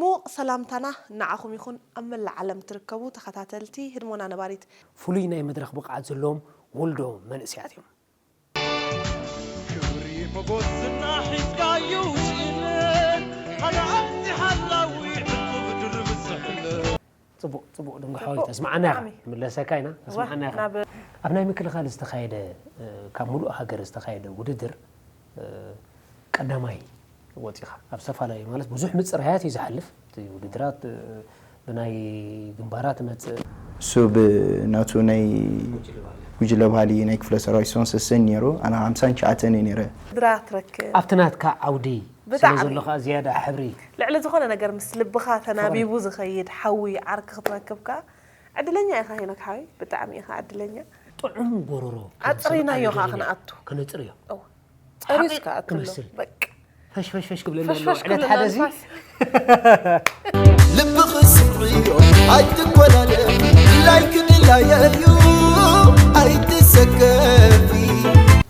ምዉቕ ሰላምታና ንዓኹም ይኹን ኣብ መላእ ዓለም ትርከቡ ተኸታተልቲ ህድሞና ነባሪት። ፍሉይ ናይ መድረኽ ብቕዓት ዘለዎም ወልዶ መንእሰያት እዮም። ክብሪ ሞጎስ ዝና ሒዝካ ዩ ዝእለ ሓደ ኣምጺ ሓላዊ ዕጹብ ድርብ ዝሕለ። ጽቡቕ ጽቡቕ ድንግሖ ተስምዓና ኢኻ ክንምለሰካ ኢና ተስምዓና ኢኻ ኣብ ናይ ምክልኻል ዝተኻየደ ካብ ምሉእ ሃገር ዝተኻየደ ውድድር ቀዳማይ ወጺኻ ኣብ ዝተፈላለዩ ማለት ብዙሕ ምጽራያት እዩ ዝሓልፍ እቲ ውድድራት ብናይ ግንባራ ትመጽእ እሱ ብናቱ ናይ ጉጅለ ባህሊ ናይ ክፍለ ሰራዊት ሶንሰሰን ነይሩ ኣነ ሃምሳን ትሽዓተን እየ ነይረ ድራ ትረክብ ኣብቲ ናትካ ዓውዲ ስለ ዘሎ ከኣ ዝያዳ ሕብሪ። ልዕሊ ዝኾነ ነገር ምስ ልብኻ ተናቢቡ ዝኸይድ ሓዊ ዓርኪ ክትረክብ ከኣ ዕድለኛ ኢኻ ሄኖክ ሓወይ ብጣዕሚ ኢኻ ዕድለኛ። ጥዑም ጎሮሮ ኣጽሪናዮ ከኣ ክንኣቱ ክነጽርዮ እወ ጸርዩስ ከኣ ክሎ በቃ ፈሽፈሽፈሽ ክብለና ኣሎ ፈሽፈሽ ዕለት ክብለና ሓደዚ ንፋስ ልብኺ ስምዕዮ ኣይትኮላለ ድላይኪ ድላየይ እዩ ኣይትሰከፊ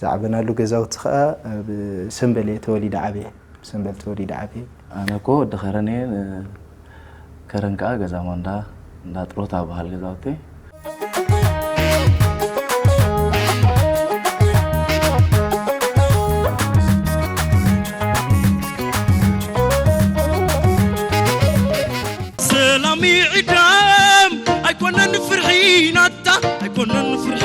ዝዓበናሉ ገዛውቲ ከኣ ኣብ ሰምበል እየ ተወሊደ ዓብየ። ኣብ ሰምበል ተወሊደ ዓብየ። ኣነ እኮ ወዲ ከረን እየ ን ከረን ከኣ ገዛ ማንዳ እንዳ ጥሮታ ዝበሃል ገዛውቲ። ሰላም ይዕደም ኣይኮነን ፍርሒ ናትካ ኣይኮነን ፍርሒ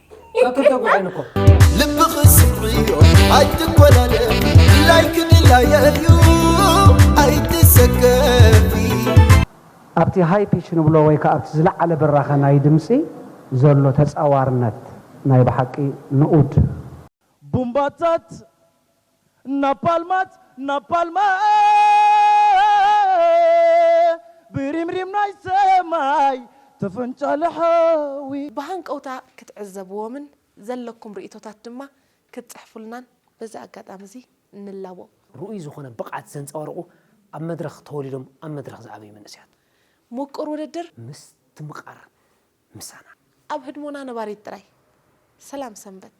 ልብኺ ስምዕዮ ኣይትኮላለ ድላይኪ ድላየ እዩ ኣይትሰከፊ ኣብቲ ሃይ ፒች ንብሎ ወይ ከኣ ኣብቲ ዝለዓለ ብራኸ ናይ ድምጺ ዘሎ ተጻዋርነት ናይ ብሓቂ ንኡድ። ቡምባታት እናባልማት እናባልማት ብሪምሪም ናይ ሰማይ ተፈንጫለ ሓዊ። ብሃንቀውታ ክትዕዘብዎምን ዘለኩም ርእይቶታት ድማ ክትጽሕፉልናን በዚ ኣጋጣሚ እዚ ንላቦ። ርኡይ ዝኾነ ብቕዓት ዘንጸባርቑ ኣብ መድረኽ ተወሊዶም ኣብ መድረኽ ዝዓበዩ መንእሰያት። ሙቁር ውድድር። ምስትምቓር ምሳና። ኣብ ህድሞና ነባሪት ጥራይ። ሰላም ሰንበት።